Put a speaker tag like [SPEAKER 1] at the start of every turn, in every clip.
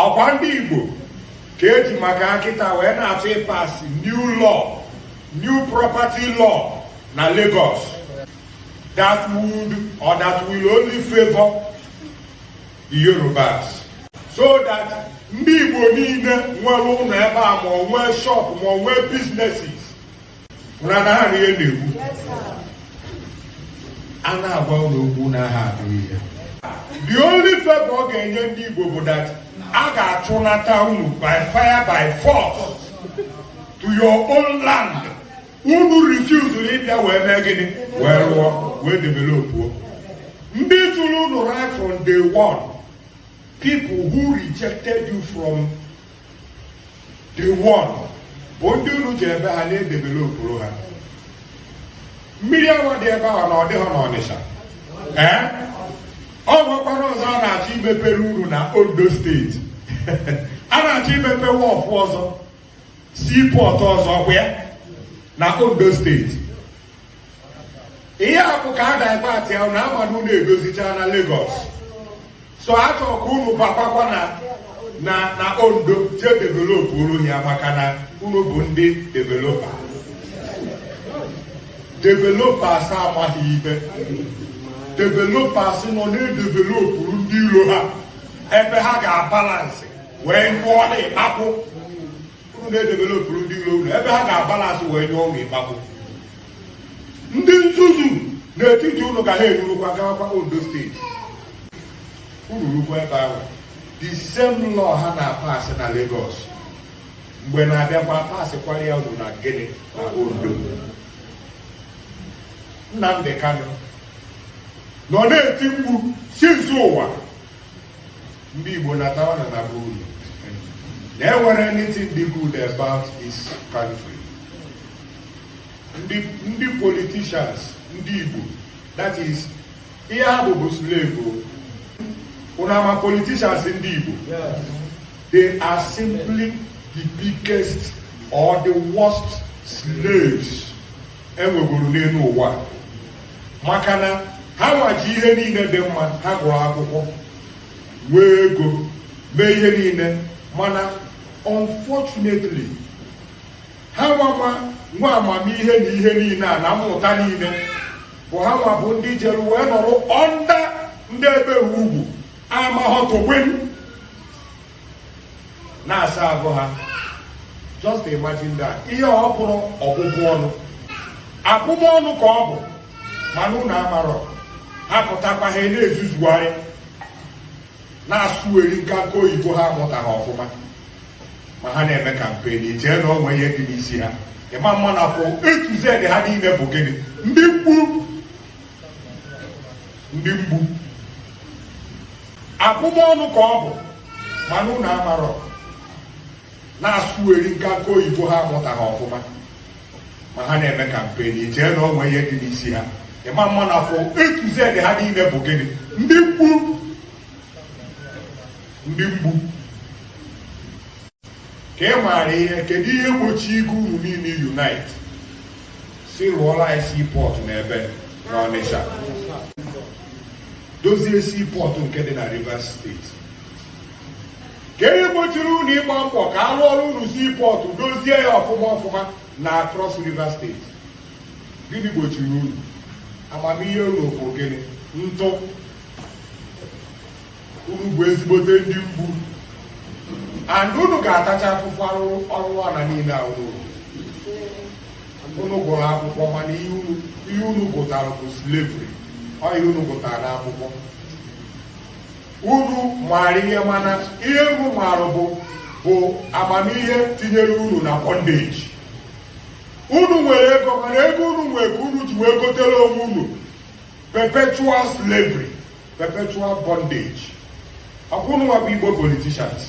[SPEAKER 1] ọkwa ndị Igbo ka eji maka ha kịta wee na-achọ ịpasị new law new property law na Lagos that would or that will only favor the Yorubas so that ndị Igbo niile nwere ụlọ ebe a ma o nwee shop ma o nwee businesses ụra na ha ihe na-egbu a na-agwa unu okwu na ha anụ ihe the only favor ọ ga-enye ndị Igbo bụ that a ga-achụnata unu by fire by force to your own land unu refusuru ịbịa wee mee gịnị wee rụọ wee developuo ndị jụrụ unu right from day one people who rejected you from day one bụ ndị unu ji ebe ha na-edevelopụrụ ha mmiri awa dị ebe ahụ na ọ dịghị n'Ọnịsha ee ọ nwekwara ọzọ a na-achọ imepere unu na Ondo steeti a na-achọ imepe wọfụ ọzọ seaport ọzọ kwa ya na Ondo steeti ihe a bụ ka a divertịa unu ama na unu edozichaana Lagos so a chọrọ ka unu bakwakwa na na na Ondo jee developụrụ ya maka na unu bụ ndị developa developers amaghị ibe developers nọ na-edevelopụrụ ndị iro ha ebe ha ga-abalansị wee nyụọ unu ịkpakwụ unu na-edevelopụrụ ndị iro unu ebe ha ga-abalansị wee nyụọ unu ịkpakwụ ndị nzuzu n'etiti unu ga-enurukwa gawakwa Ondo steeti unu rukwa ebe ahụ the same law ha na-apasị na Lagos mgbe na-abịakwa pasịkwara ya unu na gịnị na Ondo Nnamdi Kanu nọ na-eti mkpu since ụwa ndị Igbo natawa na be unu na enwerọ anything dị good about this country ndị politicians ndị Igbo that is ihe ha bụ bụ slave unu ama politicians ndị Igbo they are simply the biggest or the worst slaves enwegoro n'elu ụwa maka na ha nwa ji ihe niile dị mma ha gụrụ akwụkwọ nwee ego mee ihe niile mana unfortunately ha nwa nwe amamihe na ihe niile a na mmụta niile bụ ha nwa bụ ndị jere wee nọrọ under ndị ebe ugwu amahọtụgbe na-asa ahụ ha just imagine that ihe ọ bụrụ ọbụbụ ọnụ abụmọnụ ka ọ bụ mana unu amarọ ha pụtakwa ha na-ezuzugharị na-asụgharị nkanka oyibo ha amụtaghị ọfụma ma ha na-eme kampen i chee na o nwe ihe dị n'isi ha ị ma ama na from A to Z ha niile bụ gịnị ndị mgbu ndị mgbu abụmọnụ ka ọ bụ mana unu amarọ na-asụgharị nkanka oyibo ha amụtaghị ọfụma ma ha na-eme kampen i chee na o nwe ihe dị n'isi ha ị ma ama na from A to Z ha niile bụ gịnị ndị mgbu ndị mgbu ka ị maara ihe kedu ihe gbochi igwe unu niile unite sị rụọra anyị seaport n'ebe n'Ọnịsha dozie seaport nke dị na Rivers steeti kedu ihe gbochiri unu ịgba mbọ ka a rụọrọ unu seaport dozie ya ọfụma ọfụma na Cross River steeti gịnị gbochiri unu amamihe unu bụ gịnị ntụ unu bụ ezigbote ndị mgbu and unu ga-atacha afụfụ arụrụana niile a unu unu gụrụ akwụkwọ mana ihe unu gụtara bụ slavery ọ ihe unu gụtara n'akwụkwọ unu maara ihe mana ihe unu maara bụ bụ amamihe tinyere unu na bondage unu nwere ego mana ego unu nwere ka unu ji wee gotere onwe unu perpetual slavery perpetual bondage ọkwa unu nwa bụ igbo politicians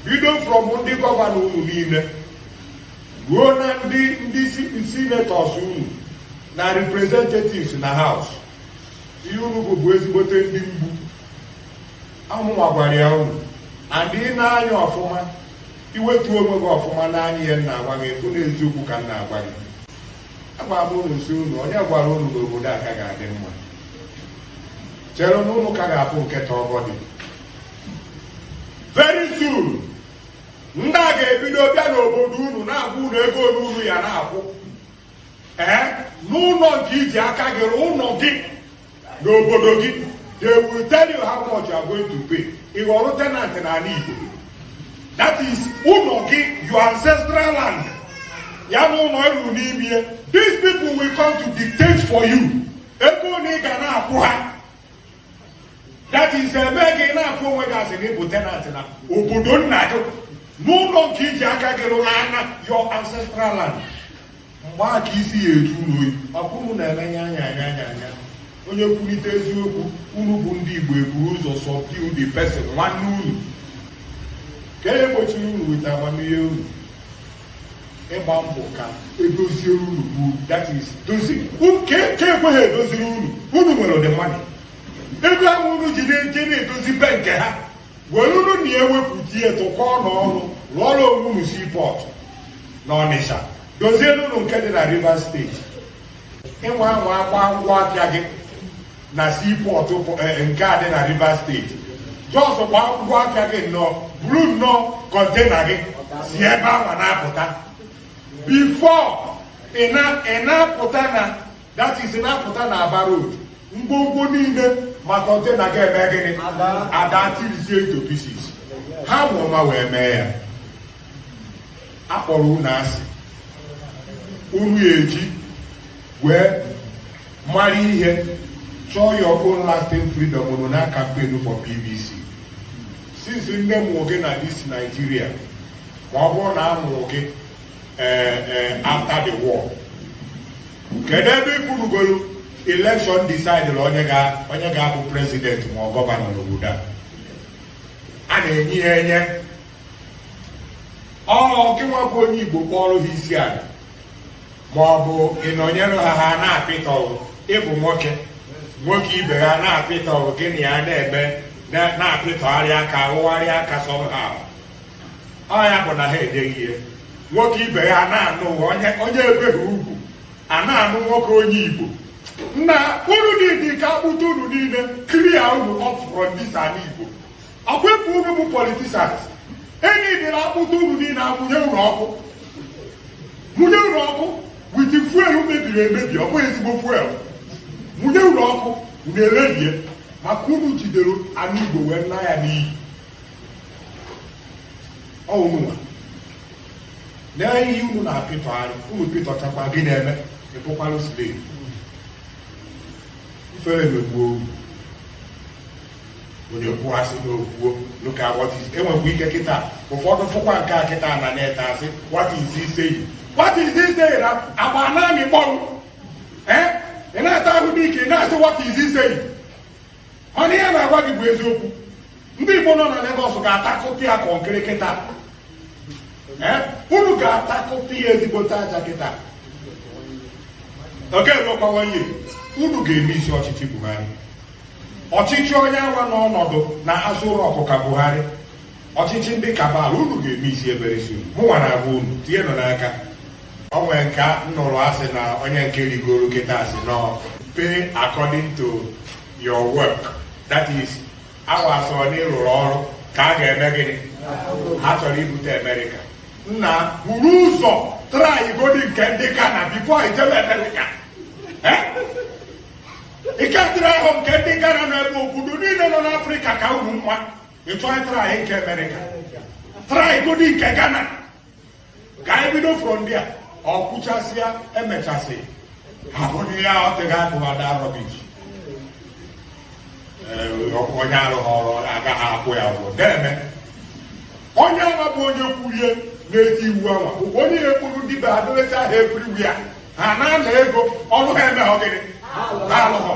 [SPEAKER 1] bido from ndị gọvanọ unu niile ruo na ndị ndị senators unu na representatives na house ihe unu bụ bụ ezigbote ndị mgbu ọ mụnwa gwara ya unu and ị nee anya ọfụma i wetuo onwe gị ọfụma nee anya ihe m na-agwa gị ị fụ na eziokwu ka m na-agwa gị agwara m unu sị unu onye gwara unu na obodo a ka ga-adị mma chere na unu ka ga-afụ nketa ọgọdị very soon ndị a ga-ebido bịa n'obodo unu na-agwa unu ego one unu ya na-akwụ ee n'ụlọ nke i ji aka gị rụọ ụlọ gị n'obodo gị they will tell you how much you are going to pay ị ghọrọ tenant n'ala Igbo that is ụlọ gị your ancestral land ya na ụlọ ị rụrụ n'ime these people will come to dictate for you ego one ị ga na-akwụ ha that is ebe gị na-afụ onwe gị a sị na ị bụ tenant na obodo nna gị n'ụlọ nke i ji aka gị rụrụ n'ana your ancestral land mgbe a ka isi ya eju unu oyi ọkwa unu na-emenye anya anya anya anya onye kwulite eziokwu unu bụ ndị Igbo eburu ụzọ subdue the person nwanne unu ka e gbochiri unu weta amamihe unu ịgba mbọ ka edozie unu bụ that is dozi nke ekweghị edoziri unu unu nwere the money ego ahụ unu ji na-eje na-edozi be nke ha were unu na-ewepụta ihe tụkọọ n'ọnụ rụọrọ onwe unu seaport na Ọnịsha dozie unu nke dị na Rivers state ị nwa anwa agba ngwa afịa gị na seaport eh, nke a dị na Rivers state just gba ngwa afịa gị nnọọ buru nnọọ container gị si ebe ahụ na-apụta before ị na-apụta na that is na-apụta na Aba road ngwongwo niile ma container ga-eme gịnị ada tirizie into pieces ha ma ụma wee mee ya akpọrọ unu asị unu eji wee mara ihe chọọ your own lasting freedom unu na campaign for PVC since nne mụrụ gị na this Nigeria ma ọ bụrụ na a mụrụ gị eh, eh, after the war kedu ebe ị fụrụgoro election decidere onye ga-abụ president ma ọ governor n'obodo a a na-enye ya enye ọ gịnwa bụ onye igbo kpọrọ ha isi ala ma ọ bụ ị nọnyere ha ha na-apịtọ ịbụ nwoke nwoke ibe ha na-apịtọ gị na ya na-eme na-apịtọgharị aka awụgharị aka somehow ọ ya bụ na ha edeghị ihe nwoke ibe ya na-anụ onye ebeghị ugwu a na-anụ nwoke onye igbo na unu niile ka akpụta unu niile clear unu off from this ala igbo ọkwa efu unu bụ politicians any day na akpụta unu niile amụnye unu ọkụ mụnye unu ọkụ with fuel mebiri emebi ọ bụghị ezigbo fuel mụnye unu ọkụ unu erebie maka unu jidere ala igbo wee laa ya n'iyi ọ unu nwa lee ihe unu na-apịtọ arụ unu pịtọchakwa gị na-eme ịbụkwara slave ifere megbuo onye kwuasị na okwuo look at what is enwekwa ike kịta ụfọdụ fụkwa nke a kịta na net asị what is he saying what is he saying agba na-amị mkpọrụ ị na-ata ahụ n'ike ị na-asị what is he saying mana ihe m na-agwa gị bụ eziokwu ndị Igbo nọ na Lagos ga-atakụta ya kọnkịrị kịta unu ga-atakụta ya ezigbote aja kịta oge ruokwawaye unu ga-emiss ọchịchị Buhari ọchịchị onye awa n'ọnọdụ na Aso Rock ka Buhari Ọchịchị ndị kabal unu ga-eme isi ebere isi unu mụnwa na-agwa unu tinyenụ n'aka o nwere nke m nụrụ asị na onye nke rigoro kịta asị na ọ pay according to your work that is hours na ị rụrụ ọrụ ka a ga-eme gịnị ha chọrọ ibute amerịka nna buru ụzọ try godi nke ndị Ghana before i jebe amerịka ike dịrị ahụ nke ndị Ghana na ebe obodo niile nọ n'afrịka ka unu mma ị chọọ ị try nke amerịka try godi nke ghana ka anyị bido from there o kwuchasịa emechasị abụghị ya ọ tịghị atụghada rubbish onye arụghị ọrụ agaghị akwụ ya ụgwọ na-eme onye ala bụ onye kulie na-eti iwu anwa bụkwa onye na-ekwuru ndị be ha dolecha ha everywhere ha na-ana ego ọrụ ha eme gịnị ha alụghọ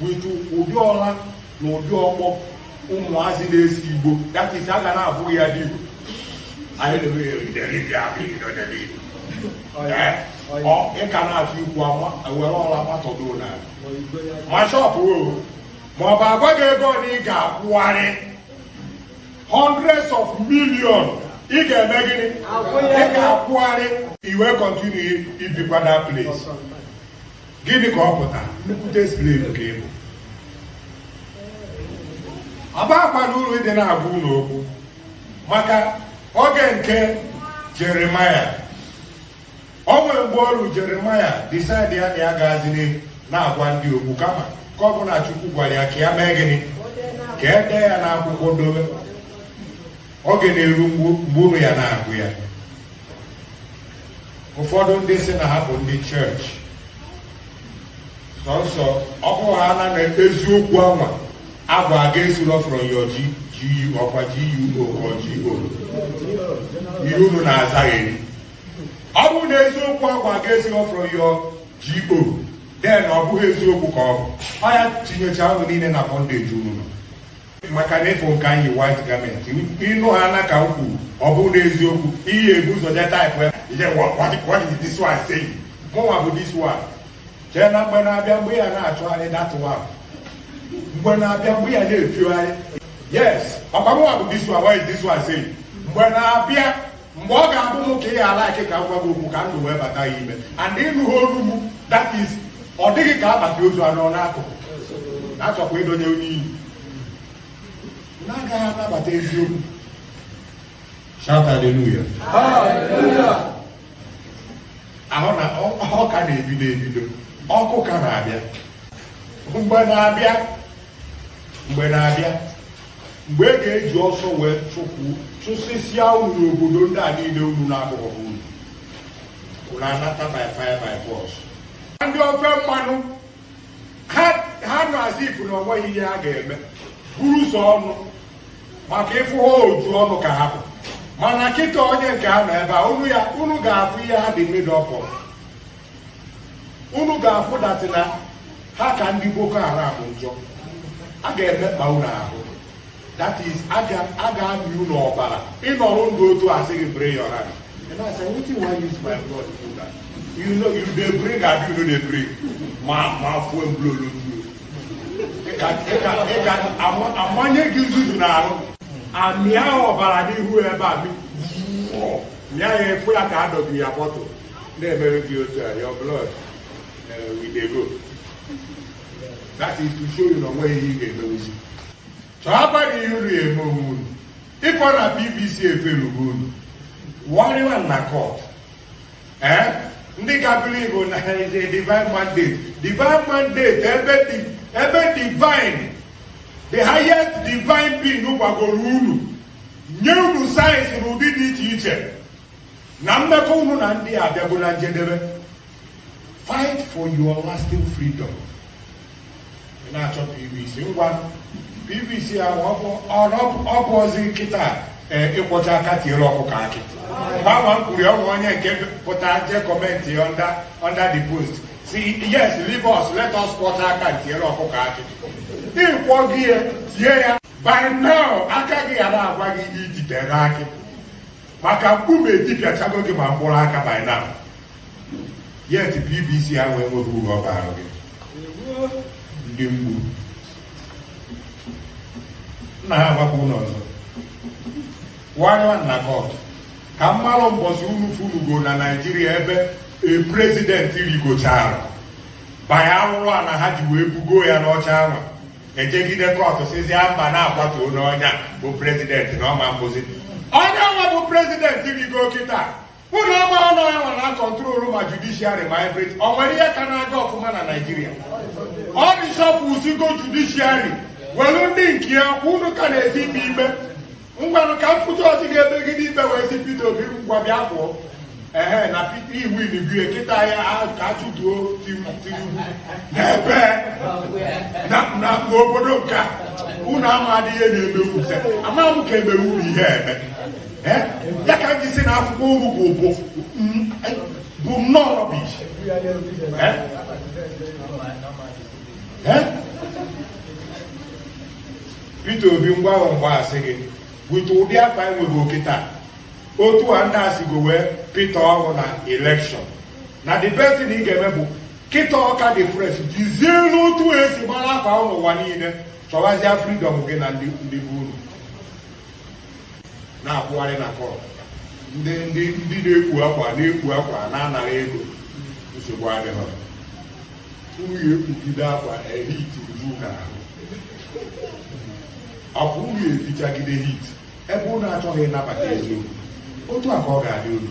[SPEAKER 1] but ụdị ụla na ụdị ọkpọ ụmụazị na-ese igbo that is a ga na-abụ ya dị igbo ị ka na-achọ ikwu were ụla matọdo na ma shop ma ọ bụ a gwa gị ego na ị ga-akwụgharị hundreds of million ị ga-eme gịnị ị ga-akwụgharị i wee continue ibikwa that place Gịnị ka ọ pụta nnukwute slave ka ị bụ? Ọ bakwana uru ịdị na-agwa unu okwu maka oge nke Jeremaya o nwere mgbe o ru Jeremaya decide ya na ya agazili na-agwa ndị okwu kama ka ọ bụ na Chukwu gwara ya ka ya mee gịnị ka e dee ya n'akwụkwọ dobe oge na-eru mgbe unu ya na-agụ ya ụfọdụ ndị si na ha bụ ndị chọọchị sọnsọ ọ bụrụ ha na eziokwu anwa a gwa gị esiro from your GU ọkwa GUO or GO ihe unu na-azagharị ọ bụrụ na eziokwu a gwa gị esiro from your GO then ọ bụghị eziokwu ka ọ bụ ọ ya tinyecha unu niile na bondage unu nọ maka na ị fụ nke a yi white garment ị nụ ha na-aka okwu ọ bụrụ n'eziokwu ị ya ebu ụzọ je type ya what is this one saying mụnwa bụ this one chee na mgbe na-abịa mgbe ị ya na-achọgharị that one mgbe na-abịa mgbe ị ya na-efiogharị yes ọkwa mụnwa bụ this one what is this one saying mgbe na-abịa mgbe ọ ga-abụ m ka ị ala ike ka m gwa gị okwu ka ndụ wee bata gị ime and ị nụghị olu m that is ọ dịghị ka akpati ozu anọ n'akụkụ na-achọkwa ịdonye onye iyi na-agaghị anabata eziokwu shout hallelujah ahụ na ọ ka na-ebido ebido ọkụ ka na-abịa mgbe na-abịa mgbe na-abịa mgbe e ga-eji ọsọ wee chụsịsịa unu n'obodo ndị a niile unu na-abụghị unu unu anata by fire by force ndị ofe mmanụ ha nọ as if na o nweghị ihe ha ga-eme bụ sọ ọnụ maka ịfụ ha oju ọnụ ka ha bụ mana kịta onye nke ha nọ ebe a unu ga-afụ ihe ha dị made up of unu ga-afụ that na ha ka ndị boko haram njọ a ga-emekpa unu ahụ that is a ga-amị unu ọbara ịnọrọ ndụ otu a sị gị bring your hand and I said wetin wan use my blood do that you know you dey bring abi you no dey bring ma ma fuel blow lotu ịka amanye gị ntụtụ n'ahụ amịa ọbara n'ihu ebe a mịa ya ị fụ ya ka adọbi ya bottle na-emere gị otu a your blood eh, we dey go that is to show you na o nweghị ihe ị ga-emewuzi chọọba na ihe unu eme onwe unu ịkọ na pvc eferugo unu warịwa na court ee eh? ndị ka believe na divine mandate divine mandate ebe divine the highest divine being gwagoro unu nye unu signs n'ụdị dị iche iche na mmekọ unu na ndị a abịago na njedebe fight for your lasting freedom na-achọ pvc ngwa pvc ahụ ọ bụzi kịta e, ịkwọcha aka tiere ọkụkọ akị gbanwa mkpuri ọnwa onye nke pụta je comment under the post sị yes leave us let us kwọcha aka tiere ọkụkọ akị ị kwọghị ya tie ya by now aka gị gara agwa gị ihe i ji tiere akị maka mkpume etipịachago gị ma mkpụrụ aka by now yet pvc ahụ enweghị uru ọ baara gị ndị mgbu nna ha agbakwa ụlọ ọzọ wanywa na court ka m malụ mbọsị unu funugo na naijiria ebe a president rigochara banye arụrụ ana ha ji wee bugo ya n'oche ahụ e jegide court sịzi mba na-akwatu onye ọnya bụ president na ọ ma-abụzi onye nwa bụ president rigo kịta unu ama na ọ ya nwa na-akọntrolu ma judiciary ma everything o nwere ihe ka na-aga ọfụma na naijiria ọ reshufflesigo judiciary welu ndị nke ya unu ka na-eti ikpe ikpe ngwanụ ka m fụta ọchị ga-emegide ikpe wee sị Peter Obi ngwa bịa pụọ ehe na Peter i winibie kịta ya ka achụtuo Tinubu n'ebe na obodo nke a unu amadịghị ihe na-eme ute ama m ka e mere unu ihe eme ya ka m ji sị na akwụkwọ unu bụ bụ bụ nnọọ rubbish Peter Obi ngwa ahụ mgbe a sị gị with ụdị afa ị nwere kịta otu a ndị a sigo wee pụta ọhụụ na elekshọn na the best thing ị ga-eme bụ kịta ọ ka dị fresh jizie n'otu e si gbara afa n'ụwa niile chọwazie freedom gị na ndị ndị bụ unu na-akwụgharị na court ndị ndị ndị na-ekpu akwa na-ekpu akwa na-anara ego nsogbu adịghị unu ya ekpugide akwa na heat unu ahụ ọ bụ unu ya efichagide heat ebe unu achọghị ịnabata eziokwu otu a ka ọ ga-adị unu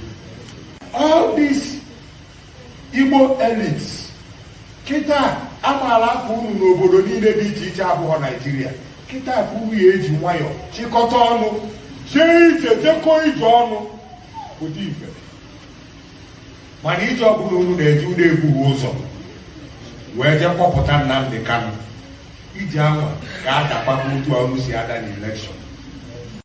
[SPEAKER 1] all these Igbo elites kịta amaala afa unu n'obodo niile dị iche iche abụhọ Naijiria kịta ka unu ya eji nwayọọ chịkọta ọnụ jee ije jekọọ ije ọnụ ụdị ife mana ije ọbụla unu na-eje unu ebughị ụzọ wee jee kpọpụta Nnamdị Kanụ ije anwa ga-adakpọkwa otu a unu si ada n'elekshọn